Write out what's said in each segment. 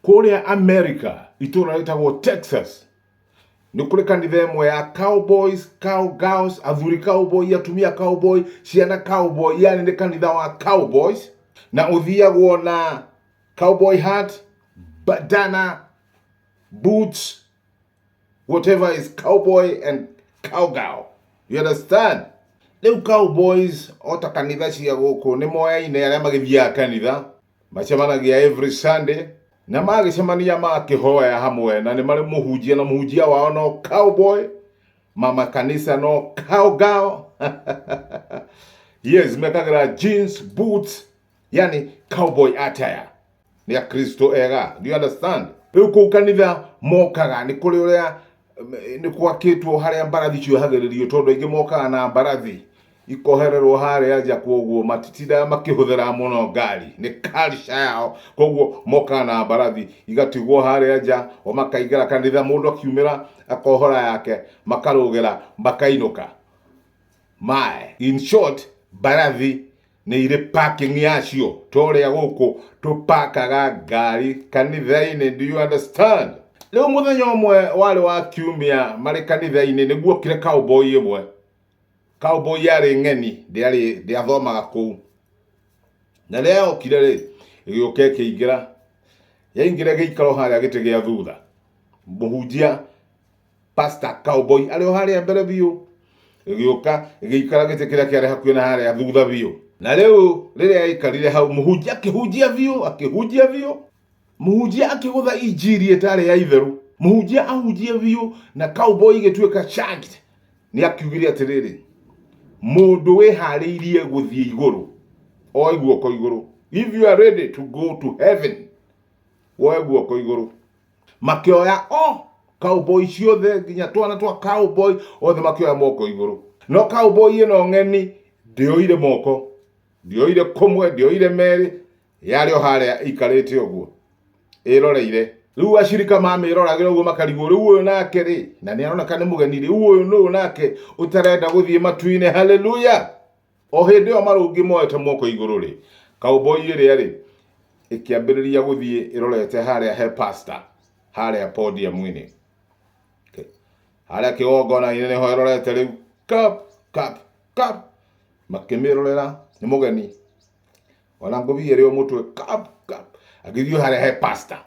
Kũrĩa Amerika, itũũra rĩtagwo Texas, nĩ kũrĩ kanitha ĩmwe ya cowboys, cowgirls, athuri cowboy, atumia cowboy, ciana cowboy, yani nĩ kanitha wa cowboys, na ũthiagwo na cowboy hat, bandana, boots, whatever is cowboy and cowgirl. You understand? Rĩu cowboys o ta kanitha cia gũkũ nĩ moyaine arĩa magĩthiaga kanitha. macemanagia every sunday na magĩcemania makĩhoya hamwe na nĩ marĩ mũhunjia na mũhunjia wao no cowboy mama kanisa no cowgirl yes mekagira jeans boots yani cowboy attire nĩ akristo ega do you understand rĩu kũu kanitha mokaga nĩ kũrĩ ũrĩa nĩ gwakĩtwo harĩa mbarathi ciohagĩrĩrio tondũ aingĩ mokaga na mbarathi ikohererwo harĩa nja koguo matitindaga makĩhũthĩra mũno ngari nĩ culture yao koguo mokaga na mbarathi igatigwo harĩa nja o makaingĩra kanitha mũndũ akiumĩra akohora yake makarũgĩra makainũka mae in short mbarathi nĩ irĩ parking yacio to ũrĩa gũkũ tũpakaga ngari kanitha-inĩ do you understand rĩu mũthenya ũmwe warĩ wa kiumia marĩ kanitha-inĩ nĩguokire cowboy ĩmwe Cowboy yarĩ ng'eni, ndĩarĩ, ndĩathomaga kũu. Na rĩrĩa yokire rĩ, ĩgĩũka ĩkĩingĩra. Yaingĩra ĩgĩikara o harĩa gĩtĩ gĩa thutha. Mũhunjia, pastor, cowboy arĩ o harĩa mbere biũ. Ĩgĩũka, ĩgĩikara gĩtĩ kĩrĩa kĩarĩ hakuhĩ na harĩa thutha biũ. Na rĩu rĩrĩa yaikarire hau, mũhunjia akĩhunjia biũ, akĩhunjia biũ. Mũhunjia akĩgũtha injiri ĩtarĩ ya itherũ. Mũhunjia ahunjie biũ na cowboy igĩtuĩka shagged. Nĩ akiugire atĩrĩrĩ, mũndũ wĩharĩirie gũthiĩ igũrũ, oe guoko igũrũ. If you are ready to go to heaven, woe guoko igũrũ. Makĩoya o cowboy ciothe nginya twana twa cowboy othe makĩoya moko igũrũ. No cowboy ĩno ng'eni ndĩoire moko, ndĩoire kũmwe, ndĩoire merĩ, Yarĩ o harĩa ĩikarĩte ũguo ĩroreire. Rĩu acirika mamĩroragĩra ũguo makarigwo, rĩu ũyũ nake rĩ, na nĩ aroneka nĩ mũgeni, rĩu ũyũ nũũ nake ũtarenda gũthiĩ matu-inĩ? Haleluya! O hĩndĩ ĩyo marũngi moete moko igũrũ rĩ, cowboy ĩrĩa rĩ, ĩkĩambĩrĩria gũthiĩ ĩrorete harĩa he pastor, harĩa podium-inĩ. Okay. Harĩa kĩgongona-inĩ nĩho ĩrorete rĩu, kap, kap, kap. Makĩmĩrorera, nĩ mũgeni. wala ngobi yere yo mutwe kap kap agithio hare he pastor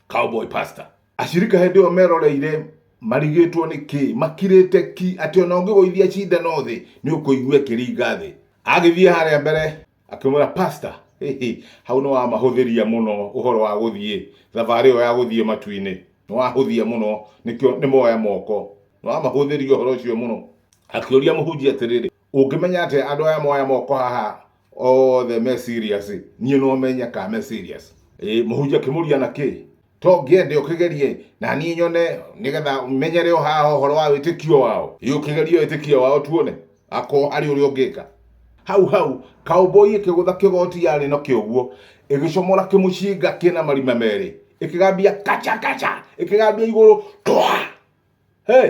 cowboy pastor ashirika hindi yo meroreire marigitwo ni ki makirite ki ati ona ungigoithia cinda no thi ni ukuigua kiringa thi agithie hare mbere akimwira pastor hihi hau ni wa mahuthiria muno uhoro wa guthie thavari yo ya guthie matuini ni wa huthia muno nikio ni moya moko ni wa mahuthiria uhoro ucio muno akiuria muhunjia atiriri Ũngĩmenya atĩa andũ aya moya moko haha othe me serious? Niĩ no menye ka me serious. Ĩĩ mũhunjia kĩmũria na kĩ? To ngĩende ũkĩgerie na niĩ nyone nĩgetha menyere o haha ũhoro wa wĩtĩkio wao. Ĩĩ ũkĩgerie wĩtĩkio wao tuone akorwo arĩ ũrĩa ũngĩka. Hau hau, cowboy ĩkĩgũtha kĩgoti yarĩ nakĩo ũguo, ĩgĩcomora kĩmũcinga kĩna marima merĩ. Ĩkĩgambia kacha kacha! Ĩkĩgambia igũrũ twaa! Hey!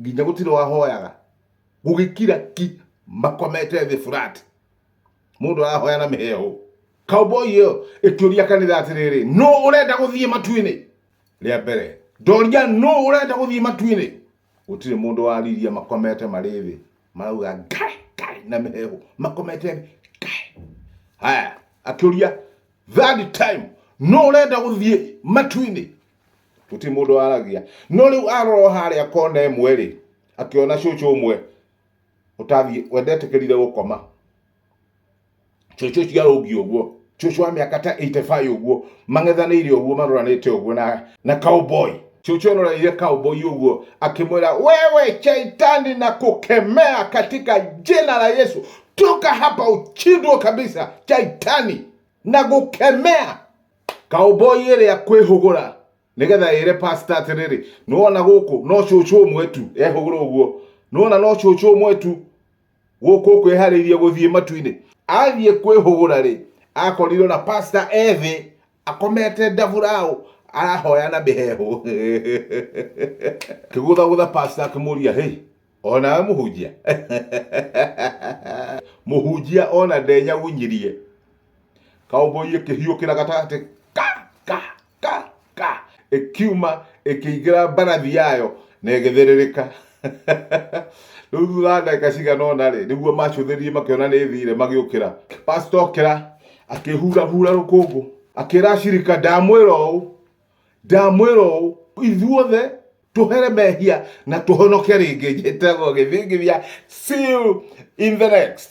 nginya gũtirĩ wahoyaga gũgĩkira ki makomete thĩ flat mũndũ arahoya na mĩheho cowboy ĩyo ĩkĩũria kanitha atĩrĩrĩ nũ ũrenda gũthiĩ matuinĩ rĩa mbere ndoria nũ ũrenda gũthiĩ matuinĩ gũtirĩ mũndũ wariria makomete marĩ thĩ marauga ngai ngai na mĩheho makomete thĩ ngai haya akĩũria third time nũ ũrenda gũthiĩ matuinĩ gũtirĩ mũndũ waragia no rĩu arorwo harĩa kona ĩmwe rĩ akĩona cũcũ ũmwe ũtathiĩ wendetĩkĩrire gũkoma cũcũ ũcio arũngi ũguo cũcũ wa mĩaka ta 85 ũguo mang'ethanĩire ũguo maroranĩte ũguo na na cowboy cũcũ ororeire cowboy ũguo akĩmwĩra wewe shaitani na kũkemea katika jina la yesu toka hapa uchindwo kabisa shaitani na gũkemea kaũmboi ĩrĩa kwĩhũgũra nĩgetha ĩre pastor atĩrĩrĩ nĩwona gũkũ no cũcũ ũmwe tu ehũgũra ũguo nĩwona no cũcũ ũmwe tu gũkũ kwĩharĩirie gũthiĩ matu-inĩ athiĩ kwĩhũgũra rĩ akorirwo na pastor ethĩ akomete ndaburaũ arahoya na mĩhehu kĩgũthagũtha pastor akĩmũria hey onawe mũhunjia mũhunjia ona ndenyawunyirie cowboy ĩkĩhiũkĩra gatagatĩ ka ka ka ka ĩkiuma ĩkĩingĩra mbarathi yayo na ĩgĩthĩrĩrĩka rĩu thutha wa ndagĩka cigana ũna rĩ nĩguo macũthĩrĩrie makĩona nĩ ĩthire magĩũkĩra pastor okĩra akĩhurahura rũkũngũ akĩra ashirika ndamwĩra ũũ Ndamwĩra ũũ, ithuothe tũhere mehia na tũhonoke rĩngĩ njĩtagwo gĩthingithia. See you in the next.